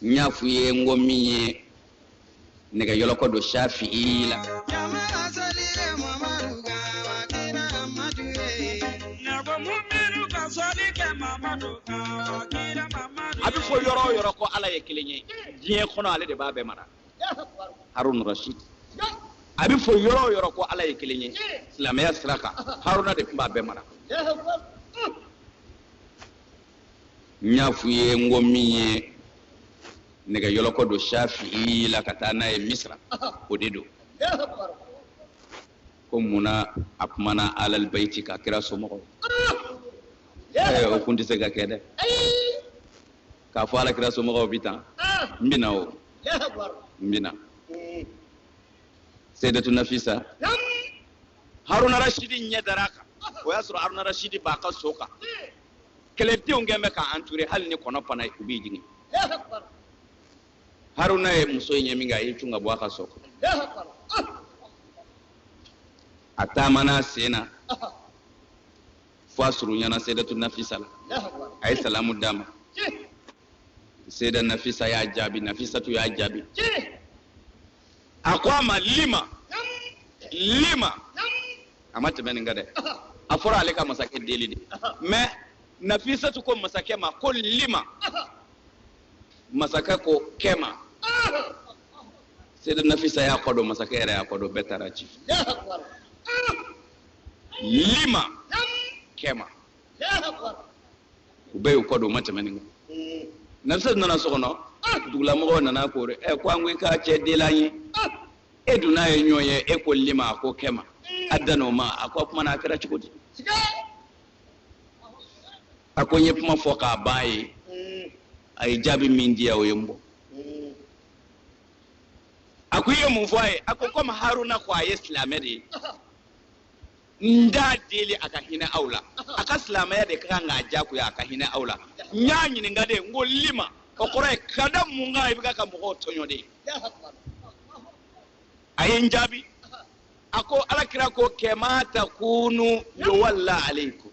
n y'a f'u ye n ko min ye nɛgɛ yɔlɔkɔ don safi'i la a bɛ fɔ yɔrɔ o yɔrɔ ko ala ye kelen ye diɲɛ kɔnɔ ale de b'a bɛɛ mara haruna rashid a bɛ fɔ yɔrɔ o yɔrɔ ko ala ye kelen ye silamɛya sira kan haruna de tun b'a bɛɛ mara n y'a f'u ye n ko min ye nɛgɛyɔlɔkɔ don shafi'i la ka taa n'a ye misira o de don ko mun na a kumana alalibayiti kan kira somɔgɔw o kun tɛ se ka kɛ dɛ k'a fɔ alakira somɔgɔw bi tan n bɛna o n bɛna seyidatu nafisa haruna rasidi ɲɛ dar'a kan o y'a sɔrɔ haruna rasidi b'a ka so kan kɛlɛdenw kun bɛ k'a anture hali ni kɔnɔ pana u b'i jigin haruna ye muso in ye min kɛ a y'i cun ka bɔ a ka so kan a taamana a sen na fo a surunyana seydatu nafisa la a ye salamu d'a ma seyida nafisa y'a jaabi nafisatu y'a jaabi a ko a ma lima lima a ma tɛmɛ nin kan dɛ a fɔra ale ka masakɛ deli de mɛ nafisatu ko masakɛ ma ko lima masakɛ ko kɛma seyida nafisa y'a kɔ don masakɛ yɛrɛ y'a kɔ don bɛɛ taara ci lima kɛma u bɛɛ y'u kɔ don u ma tɛmɛ nin kan nafisa nana so kɔnɔ dugulamɔgɔw nana ko ɛ ko an ko i ka cɛ deli an ye e dun n'a ye ɲɔgɔn ye e ko lima a ko kɛma a danna o ma a ko a kumana a kɛra cogo di a ko n ye kuma fɔ k'a ban ye a ye jaabi min di yan o ye n bɔ a ko i ye mun fɔ a ye a ko komi haruna ko a ye silamɛ de ye n t'a deli a ka hinɛ aw la a ka silamɛya de ka kan k'a jagoya a ka hinɛ aw la n y'a ɲininka de n ko lima o kɔrɔ ye ka da mun kan i bɛ ka mɔgɔw tɔɲɔ de a ye n jaabi a ko alakira ko kɛma takunu yuwalla aleikum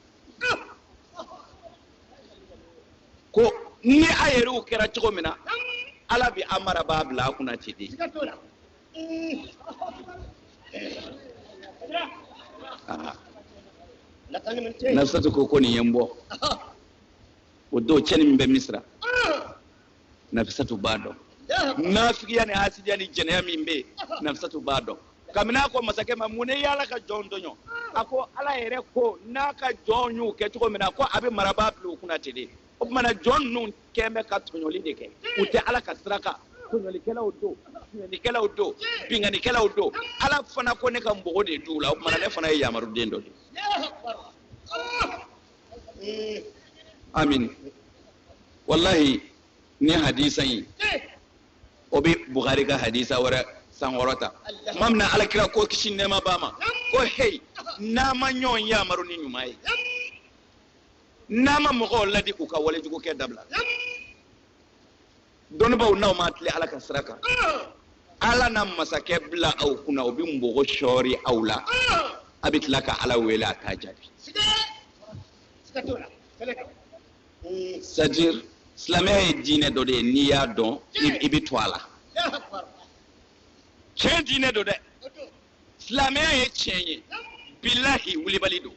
ko ni a yɛrɛw kɛra cogo min na ala bɛ a marabaa bila a kunna ten de nafisatu ko ko nin ye n b'o dɔn tiɲɛni min bɛ misira nafisatu b'a dɔn nafigiya ni hasidiya ni jɛnɛya min bɛ nafisatu b'a dɔn kabini a ko masakɛ ma mun na e ye ala ka jɔnw tɔɲɔ a ko ala yɛrɛ ko n'a ka jɔnw y'u kɛ cogo min na ko a bɛ marabaa bila u kunna ten de o tumana jɔn ninnu kɛn bɛ ka tɔɲɔli de kɛ u tɛ ala ka sira kan tɔɲɔlikɛlaw don binkannikɛlaw don binkannikɛlaw don ala fana ko ne ka mɔgɔ de d'u la o tumana ne fana ye yamaruden dɔ de ye amin walahi ni hadisa in o bɛ bukari ka hadisa wɛrɛ sankɔrɔ ta tuma min na ala kira ko kisi nɛɛma b'a ma ko heyi n'a ma ɲɔgɔn yamaru ni ɲuman ye n'a ma mɔgɔw ladi k'u ka walejugukɛ dabila dɔnnibaw n'aw ma tilen ala ka sira kan ala na masakɛ bila aw kunna o bɛ mɔgɔ sɔɔri aw la a bɛ tila ka ala wele a t'a jaabi c'est-à-dire silamɛya ye diinɛ dɔ de ye n'i y'a dɔn i bɛ to a la tiɲɛ diinɛ don dɛ silamɛya ye tiɲɛ ye bilahi wulibali don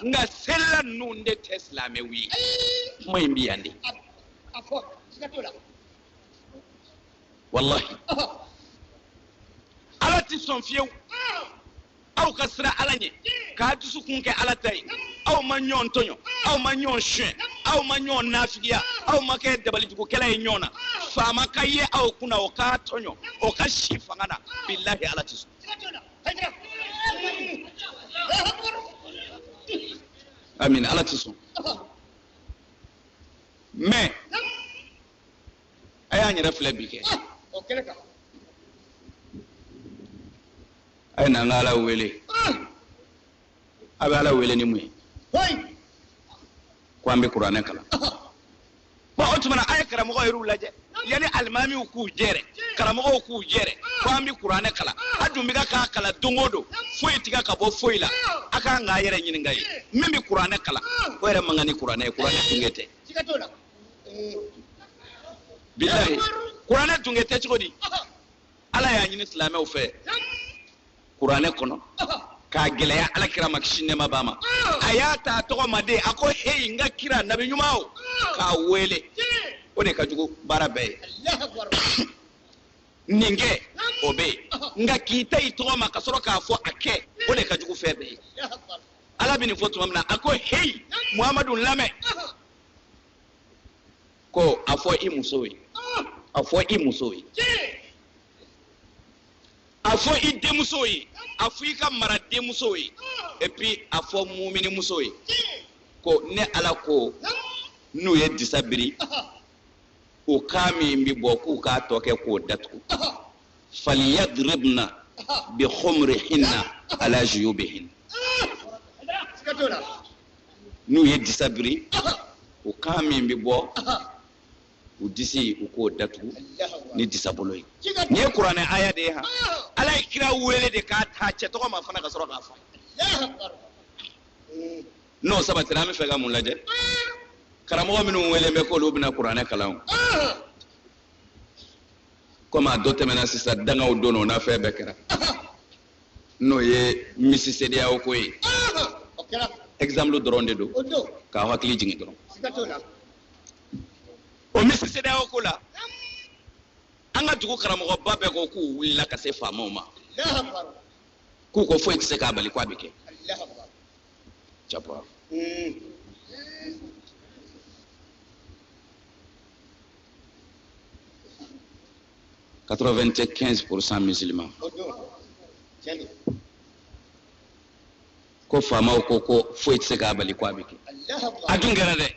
nka selila ninnu de tɛ silamɛw ye kuma in bɛ yan de walahi ala tɛ sɔn fiyewu aw ka siran ala ɲɛ k'a dusukun kɛ ala ta ye aw ma ɲɔgɔn tɔɲɔ aw ma ɲɔgɔn suɲɛ aw ma ɲɔgɔn nafigiya aw ma kɛ dabalijugukɛla ye ɲɔgɔn na faama ka ye aw kunna o k'a tɔɲɔ o ka si fanga na bilahi ala tɛ sɔn amin ala tɛ sɔn mɛ a y'an yɛrɛ filɛ bi kɛ a ye na an ka ala wele a bɛ ala wele ni mun ye ko an bɛ kuranɛ kalan bon o tuma na a ye karamɔgɔ yɛrɛw lajɛ yanni alimamiw k'u jɛrɛ karamɔgɔw k'u jɛrɛ ko an bɛ kuranɛ kalan a dun bɛ ka k'a kalan don o don foyi tɛ ka ka bɔ foyi la a ka kan k'a yɛrɛ ɲininka ye min bɛ kuranɛ kalan o yɛrɛ man kan ni kuranɛ ye kuranɛ tunkɛ tɛ bilahi kuranɛ tunkɛ tɛ cogo di ala y'a ɲini silamɛw fɛ kuranɛ kɔnɔ k'a gɛlɛya ala kira ma kisi nɛɛma b'a ma a y'a ta a tɔgɔ ma de a ko heyi n ka kira nabi ɲuman o k'a wele o de ka jugu baara bɛɛ ye nin kɛ o bɛ yen nka k'i ta i tɔgɔ ma ka sɔrɔ k'a fɔ a kɛ o de ka jugu fɛn bɛɛ ye ala bɛ nin fɔ tuma min na a ko heyi muhamadu lamɛn ko a fɔ i muso ye a fɔ i muso ye a fɔ i denmuso ye a fɔ i ka mara denmuso ye et puis a fɔ muminimuso ye ko ne ala ko n'u ye disa biri o kan min bɛ bɔ k'u k'a tɔ kɛ k'o datugu faliyadribna bi khumrihinna ala juyubihin n'u ye disa biri u kan min bɛ bɔ u disi u k'o datugu ni disa bolo ye nin ye kuranɛ aya de ye han ala ye kira wele de k'a ta cɛ tɔgɔ ma fana ka sɔrɔ k'a fɔ n'o sabatira an bɛ fɛ ka mun lajɛ karamɔgɔ minnu welelen bɛ k'olu bɛna kuranɛ kalan komi a dɔ tɛmɛna sisan dangaw don o n'a fɛn bɛɛ kɛra n'o ye Miss CEDEAO ko ye exemple dɔrɔn de don k'aw hakili jigin dɔrɔn o Miss CEDEAO ko la an ka dugu karamɔgɔba bɛɛ ko k'u wulila ka se faamaw ma k'u ko foyi tɛ se k'a bali k'a bɛ kɛ jama 95 pourcent musulman ko faamaw ko ko foyi tɛ se k'a bali ko a bɛ kɛ a dun kɛra dɛ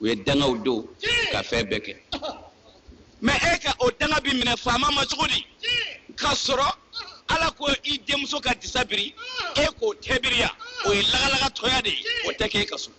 u ye dangaw don ka fɛn bɛɛ kɛ mais e ka o danga bi minɛ faama ma cogo di ka sɔrɔ ala ko i denmuso ka disa biri e k'o tɛ biri yan o ye lagalagatɔya de ye o tɛ kɛ e ka so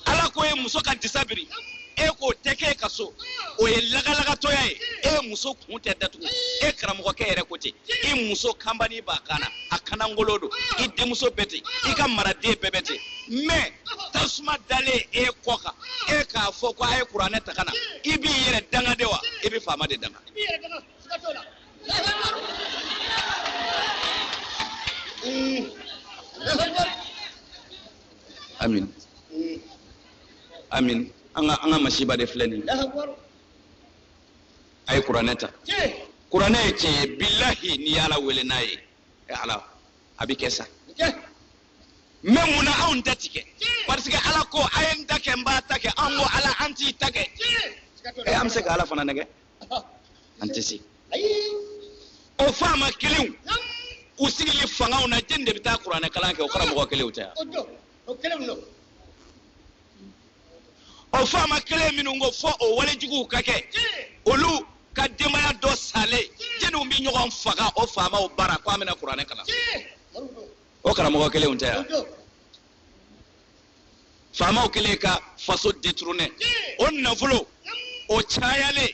ala ko e muso ka disa biri e k'o tɛ kɛ e ka so o ye lagalagatɔya ye e muso kun tɛ datugu e karamɔgɔkɛ yɛrɛ ko ten i muso kanbani b'a kan na a kunnankolon don i denmuso bɛɛ ten i ka maraden bɛɛ bɛ ten mais tasuma dalen e kɔ kan e k'a fɔ ko a ye kuranɛ ta ka na i b'i yɛrɛ danga de wa i bɛ faama de danga Mm. amin amin an ka masiba de filɛ nin a ye kuranɛ ta kuranɛ ye tiɲɛ ye bilahi n'i y'ala wele n'a ye e ala a bɛ kɛ sa mais mun na anw ta tɛ kɛ parce que ala ko a ye n ta kɛ n b'a ta kɛ an ko ala an t'i ta kɛ e an bɛ se ka ala fana nɛgɛn an tɛ se o faama kelenw u sigili fangaw na jɛni de bɛ taa kuranɛ kalan kɛ o karamɔgɔ kelenw tɛ yan o faama kelen minnu ko fo o walejuguw ka kɛ olu ka denbaya dɔ salen jɛniw bɛ ɲɔgɔn faga o faamaw bara ko an bɛna kuranɛ kalan o karamɔgɔ kelenw tɛ yan faamaw kɛlen ka faso deturunɛ o nafolo o cayalen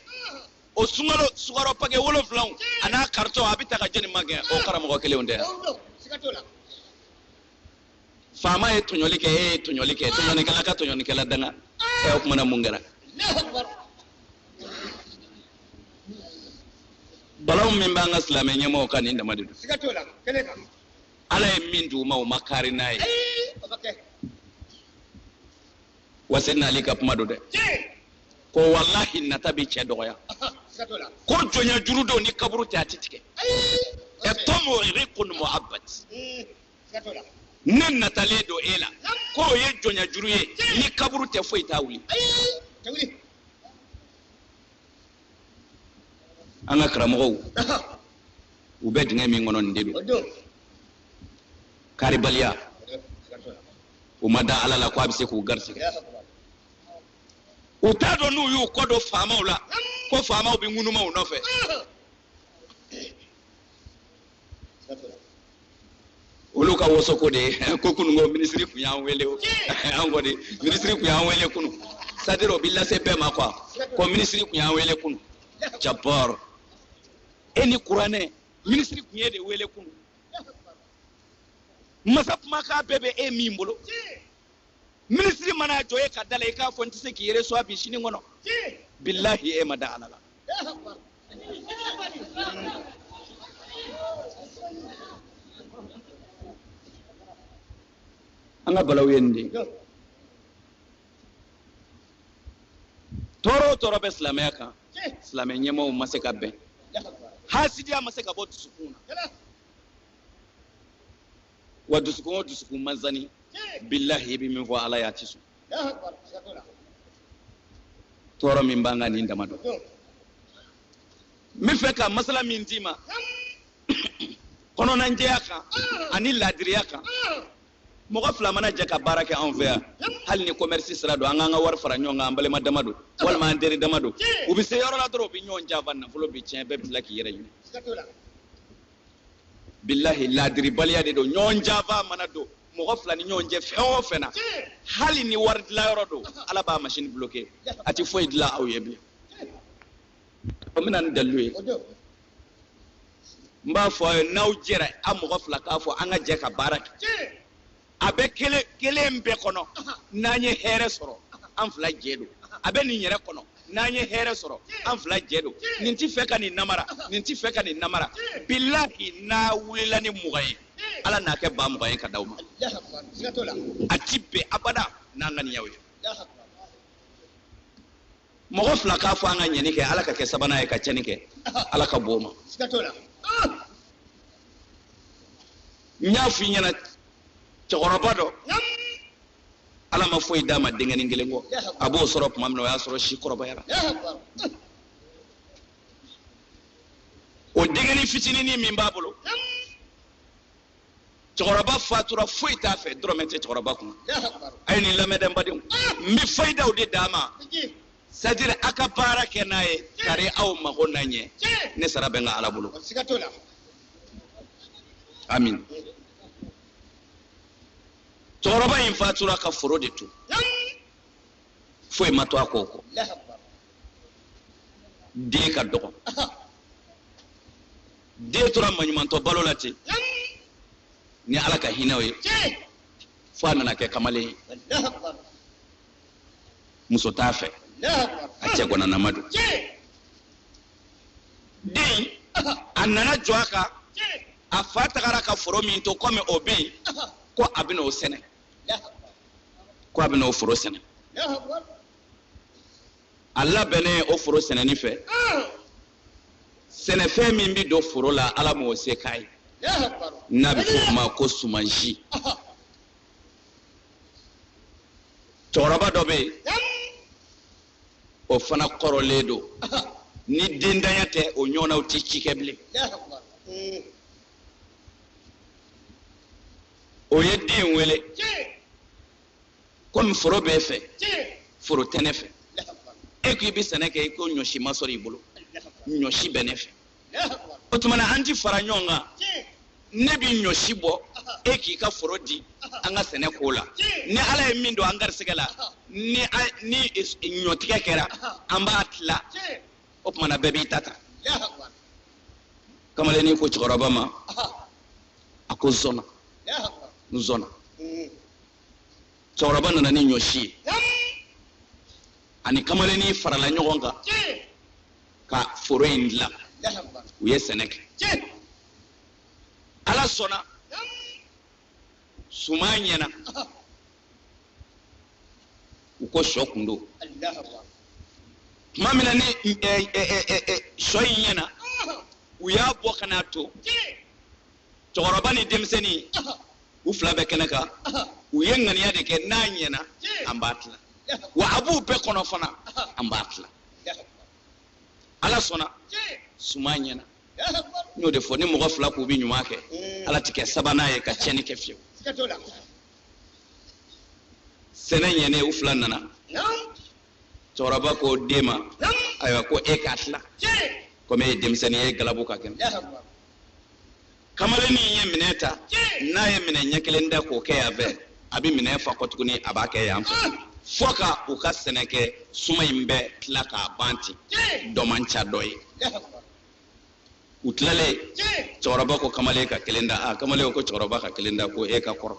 o sunkalo sukaro pake wolonfila a n'a karitɔn a bɛ ta ka jeni magɛn o karamɔgɔ kelenw tɛ faama ye tɔɲɔli kɛ e ye tɔɲɔli kɛ tɔɲɔnikɛla ka tɔɲɔnikɛla danga ɛ o kuma na mun kɛra balaw min b'an ka silamɛ ɲɛmɔgɔw kan nin dama de don ala ye min d'u ma u ma kari n'a ye wa seyidina ali ka kuma don dɛ ko walahi nata bɛ cɛ dɔgɔya ko jɔnya juru don ni kaburu tɛ a tɛ tigɛ attamau riqqun mu'abbad ne natalen don e la ko o ye jɔnya juru ye ni kaburu tɛ foyi t'a wuli an ka karamɔgɔw u bɛ dingɛ min kɔnɔ nin de don karibaliya u ma da ala la ko a bɛ se k'u garisigɛ u t'a dɔn n'u y'u kɔ don faamaw la fo faamaw bɛ ŋunuma u nɔfɛ olu ka wasoko de ye ko kunun ko minisiri kun y'an wele o an kɔni minisiri kun y'an wele kunu c'est-à-dire o bɛ lase bɛɛ ma quoi ko minisiri kun y'an wele kunu jabbar e ni kuranɛ minisiri kun ye de wele kunu masa kumakan bɛɛ bɛ e min bolo minisiri mana jɔ e ka da la i k'a fɔ n tɛ se k'i recevoir bi sini kɔnɔ bilahi e ma da ala la an ka balaw ye nin de ye tɔɔrɔ o tɔɔrɔ bɛ silamɛya kan silamɛ ɲɛmɔgɔw ma se ka bɛn hasidiya ma se ka bɔ dusukun na wa dusukun o dusukun man sani bilahi i bɛ min fɔ ala y'a tɛ sɔn tɔɔrɔ min b'an kan nin dama don n bɛ fɛ ka masala min d'i ma kɔnɔnajɛya kan ani laadiriya kan mɔgɔ fila mana jɛ ka baara kɛ anw fɛ yan hali ni commerce sira don an k'an ka wari fara ɲɔgɔn kan an balima dama don walima an teri dama don u bɛ se yɔrɔ la dɔrɔn u bɛ ɲɔgɔn janfa nafolo bɛ tiɲɛ bɛɛ bɛ tila k'i yɛrɛ ɲini bilahi laadiribaliya de don ɲɔgɔn janfa mana don mɔgɔ fila ni ɲɔgɔn cɛ fɛn o fɛn na hali ni wari dilanyɔrɔ don ala b'a masini bloke a tɛ foyi dilan aw ye bilen o bɛ na ni dalilu ye n b'a fɔ aw ye n'aw jɛra a mɔgɔ fila k'a fɔ an ka jɛ ka baara kɛ a bɛ kelen kelen bɛɛ kɔnɔ n'an ye hɛrɛ sɔrɔ an fila jɛ don a bɛ nin yɛrɛ kɔnɔ n'an ye hɛrɛ sɔrɔ an fila jɛ don nin tɛ fɛ ka nin namara nin tɛ fɛ ka nin namara bilahi n'a wulila ni mugan ye ala n'a kɛ ba mugan ye ka d'aw ma a ti bɛn abada n'an ŋaniyaw ye mɔgɔ fila k'a fɔ an ka ɲɛni kɛ ala ka kɛ sabanan ye ka cɛni kɛ ala ka b'o ma n y'a fɔ i ɲɛna cɛkɔrɔba dɔ ala ma foyi d'a ma denkɛnin kelen kɔ a b'o sɔrɔ tuma min na o y'a sɔrɔ si kɔrɔbayara o denkɛnin fitinin min b'a bolo cɛkɔrɔba fatura foyi t'a fɛ dɔrɔmɛ tɛ cɛkɔrɔba kun a ye nin lamɛn dɛ n badenw n bɛ fayidaw de d'a ma c'est à dire a ka baara kɛ n'a ye kari aw mago na ɲɛ ne sara bɛ n ka ala bolo amin cɛkɔrɔba in fatura ka foro de to foyi ma to a kɔ kɔ den ka dɔgɔ den tora maɲumantɔ balo la ten ni ala ka hinɛw ye fo a nana kɛ kamalen ye muso t'a fɛ a cɛ gɔnanama don den a nana jɔ a kan a fa tagara ka foro min to kɔmi o bɛ yen ko a bɛna o sɛnɛ ko a bɛna o foro sɛnɛ a labɛnnen o foro sɛnɛni fɛ sɛnɛfɛn min bɛ don foro la ala m'o se k'a ye n'a bɛ fɔ o ma ko sumansi cɛkɔrɔba dɔ bɛ yen o fana kɔrɔlen don ni dendanya tɛ o ɲɔgɔnnaw tɛ ci kɛ bilen o ye den wele komi foro b'e fɛ foro tɛ ne fɛ e ko i bɛ sɛnɛ kɛ i ko ɲɔsi ma sɔrɔ i bolo ɲɔsi bɛ ne fɛ o tuma na an ti fara ɲɔgɔn kan ne bɛ ɲɔsi bɔ e k'i ka foro di an ka sɛnɛ k'o la ni ala ye min don an garisɛgɛ la ni ni ɲɔtigɛ kɛra an b'a tila o tuma na bɛɛ b'i ta ta kamalennin ko cɛkɔrɔba ma a ko zɔnna n zɔnna cɛkɔrɔba nana ni ɲɔsi ye ani kamalennin farala ɲɔgɔn kan ka foro in dilan u ye sɛnɛ kɛ ala sɔnna suman ɲɛna u ko sɔ kun don tuma min na ni sɔ in ɲɛna u y'a bɔ ka n'a to cɛkɔrɔba ni denmisɛnnin u fila bɛ kɛnɛ kan u ye ŋaniya de kɛ n'a ɲɛna an b'a tila wa a b'u bɛɛ kɔnɔ fana an b'a tila ala sɔnna suman ɲɛna n y'o de fɔ ni mɔgɔ fila k'u bɛ ɲuman kɛ mm. ala tɛ kɛ sabanan ye ka tiɲɛni kɛ fiyewu sɛnɛ ɲɛnen u fila nana cɛkɔrɔba ko den ma ayiwa ko e k'a tila komi e ye denmisɛnnin ye e galabu ka kɛnɛ kamalennin ye minɛn ta n'a ye minɛn ɲɛ kelen ta k'o kɛ yan fɛ a bɛ minɛn fa kɔ tuguni a b'a kɛ yan fɛ fo ka u ka sɛnɛ kɛ suman in bɛɛ tila k'a ban ten dɔ man ca dɔ ye u tilalen cɛkɔrɔba ko kamalen ka kelen ta a kamalen ko cɛkɔrɔba ka kelen ta ko e ka kɔrɔ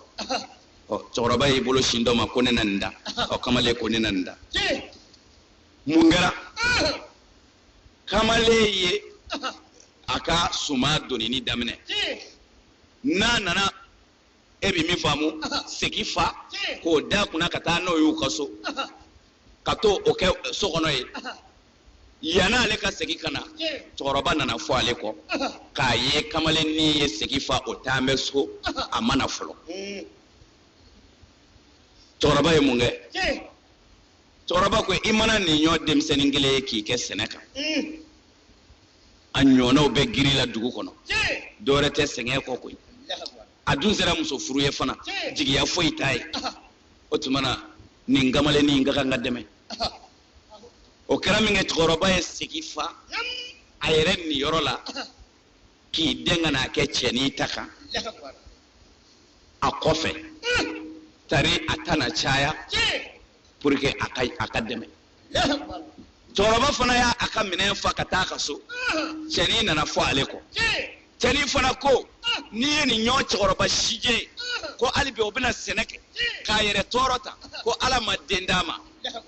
ɔ cɛkɔrɔba y'i bolo sin dɔ ma ko ne na nin ta ɔ kamalen ko ne na nin ta mun kɛra kamalen ye a ka suman donini daminɛ n'a nana e bɛ min faamu segi fa k'o da kunna ka taa n'o y'u ka so ka t'o kɛ so kɔnɔ yen yan'ale ka segin ka na cɛkɔrɔba nana fɔ ale kɔ k'a ye kamalennin ye segi fa o taalen bɛ so a ma na fɔlɔ cɛkɔrɔba ye mun kɛ cɛkɔrɔba ko i mana nin ɲɔgɔn denmisɛnnin kelen ye k'i kɛ sɛnɛ kan a ɲɔgɔnnaw bɛ giri la dugu kɔnɔ dɔwɛrɛ tɛ sɛgɛn kɔ koyi a dun sera muso furu ye fana jigiya foyi t'a ye o tuma na nin kamalennin in ka kan ka dɛmɛ o kɛra min kɛ cɛkɔrɔba ye segi fa a yɛrɛ niyɔrɔ la k'i dɛn ka n'a kɛ cɛnin ta kan a kɔfɛ tari a ta na caya pour que a ka a k'a dɛmɛ cɛkɔrɔba fana y'a a ka minɛn fa ka taa ka so cɛnin nana fɔ ale kɔ cɛnin fana ko n'i ye nin ɲɔgɔn cɛkɔrɔba sijɛ ko hali bi o bɛna sɛnɛ kɛ k'a yɛrɛ tɔɔrɔ tan ko ala ma den d'a ma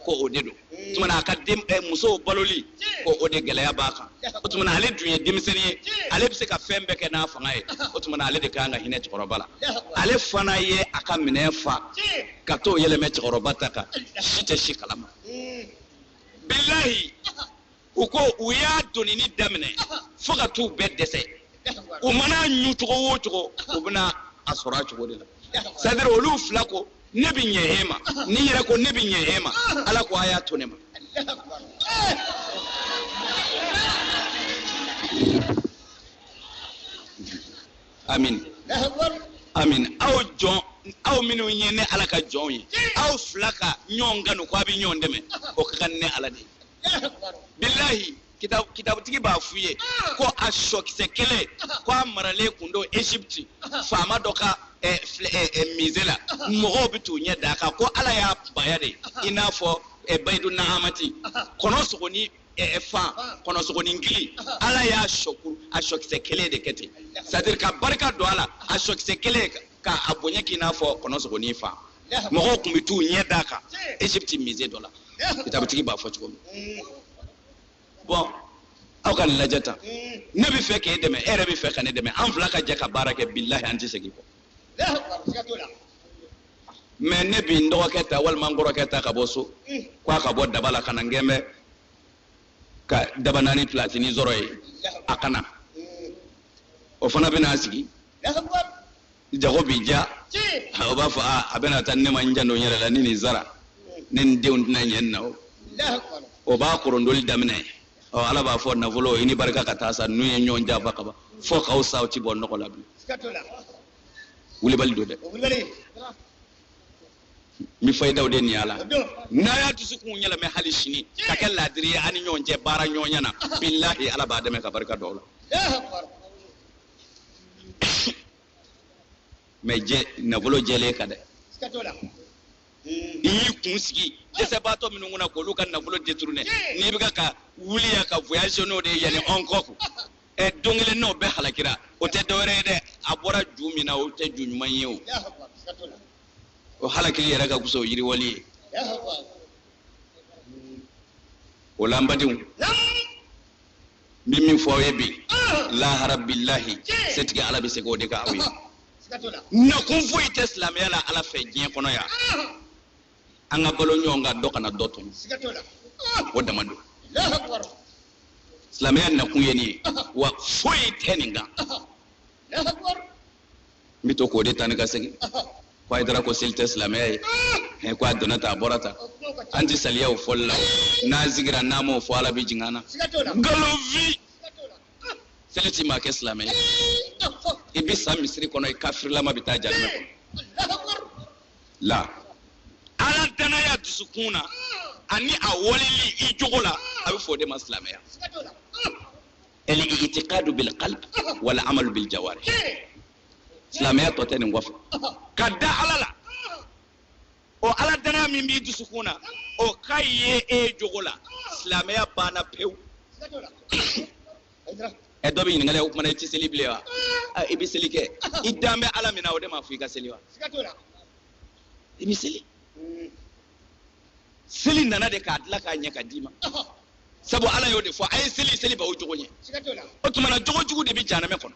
ko o de don tuma na a ka den eh, musow baloli ko o de gɛlɛya b'a kan o tuma na ale dun ye denmisɛnnin ye ale bɛ se ka fɛn bɛɛ kɛ n'a fanga ye o tuma na ale de kan ka hinɛ cɛkɔrɔba la ale fana ye a ka minɛn fa ka t'o yɛlɛmɛ cɛkɔrɔba ta kan si tɛ si kalama bilahi u ko u y'a donini daminɛ fo ka t'u bɛɛ dɛsɛ u mana a ɲun cogo o cogo u bɛna a sɔrɔ a cogo de la c'est à dire olu fila ko ne bɛ ɲɛ e ma nin yɛrɛ ko ne bɛ ɲɛ e ma ala ko a y'a to ne ma amin amin aw jɔn aw minnu ye ne ala ka jɔnw ye aw fila ka ɲɔgɔn kanu ko a bɛ ɲɔgɔn dɛmɛ o ka kan ne ala de ye bilahi kitabutigi b'a f'u ye ah. ko a sɔkisɛ kelen ah. ko a maralen kun don egypte ah. faama dɔ ka eh, eh, eh, musée la mɔgɔw bɛ t'u ɲɛ d'a kan ko ala y'a baya de i n'a fɔ bayidu nahamati kɔnɔ sogoni fan kɔnɔ sogoni gili ala y'a sɔku a sɔkisɛ kelen de kɛ ten c'est à dire ka barika don a la a sɔkisɛ kelen kan ka a bonya k'i n'a fɔ kɔnɔ sogonin fan mɔgɔw tun bɛ t'u ɲɛ d'a kan egypte musée dɔ la kitabutigi b'a fɔ cogo min bon aw ka nin lajɛ tan ne bɛ fɛ k'e dɛmɛ e yɛrɛ bɛ fɛ ka ne dɛmɛ an fila ka jɛ ka baara kɛ bilahi an tɛ segin kɔ mais ne bi n dɔgɔkɛ ta walima n kɔrɔkɛ ta ka bɔ so ko a ka bɔ daba la ka na n gɛn bɛ ka dabanani pilatini sɔrɔ ye a ka na o fana bɛna a sigi jago bi diya o b'a fɔ a bɛna tan ne ma n janto n yɛrɛ la ni nin sara ne ni denw tɛna ɲɛ nin na o o b'a korondoli daminɛ ɔ ala b'a fɔ nafolo i ni barika ka taa sa n'u ye ɲɔgɔn janfa ka ban fo k'aw sa o ti bɔ nɔgɔ la bilen wulibali don dɛ n bɛ fayidaw de nin a la n'a y'a dusukun yɛlɛmɛ hali sini ka kɛ laadiri ye a ni ɲɔgɔn cɛ baara ɲɔgɔnya na bilahi ala b'a dɛmɛ ka barika don a la mais jɛ nafolo jɛlen ka dɛ i y'i kun sigi dɛsɛbaatɔ minnu kunna k'olu ka nafolo détourné n'i bɛ ka wuli yan ka voyage n'o de ye yan ni hong kong ɛ don kelen n'o bɛɛ halakira o tɛ dɔwɛrɛ ye dɛ a bɔra ju min na o tɛ ju ɲuman ye o o halakili yɛrɛ ka fisa o yiriwali ye o la n badenw n bɛ min fɔ aw ye bi lahara bilahi setigi ala bɛ se k'o de kɛ aw ye nakun foyi tɛ silamɛya la ala fɛ diɲɛ kɔnɔ yan an ka balo ɲɔgɔn kan dɔ kana dɔ tɔɲɔ o dama don silamɛya nakun ye nin ye wa foyi tɛ nin kan n bɛ to k'o de ta ni ka segin ko hayidara ko seli tɛ silamɛya ye ɛ ko a donna tan a bɔra tan an tɛ saliya o fɔli la n'an sigira n'an m'o fɔ ala bɛ jigin an na nkalonfin seli ti maa kɛ silamɛ ye i bɛ sa misiri kɔnɔ i kafirilama bɛ taa jahanama kɔnɔ la ala danaya dusukun na ani a waleli i jogo la a bɛ fɔ o de ma silamɛya al-i'tiqadu bil qalb wal amalu bil jawarih silamɛya tɔ tɛ nin kɔfɛ ka da ala la o ala danaya min b'i dusukun na o ka ye e jogo la silamɛya banna pewu ɛ dɔ bɛ ɲininkali k'o kuma na i tɛ seli bilen wa a i bɛ seli kɛ i dan bɛ ala min na o de m'a fɔ i ka seli wa i bɛ seli seli nana de k'a dilan k'a ɲɛ ka d'i ma sabu ala y'o de fɔ a ye seli seli b'aw jogo ɲɛ o tuma na jogo jugu de bɛ janamɛ kɔnɔ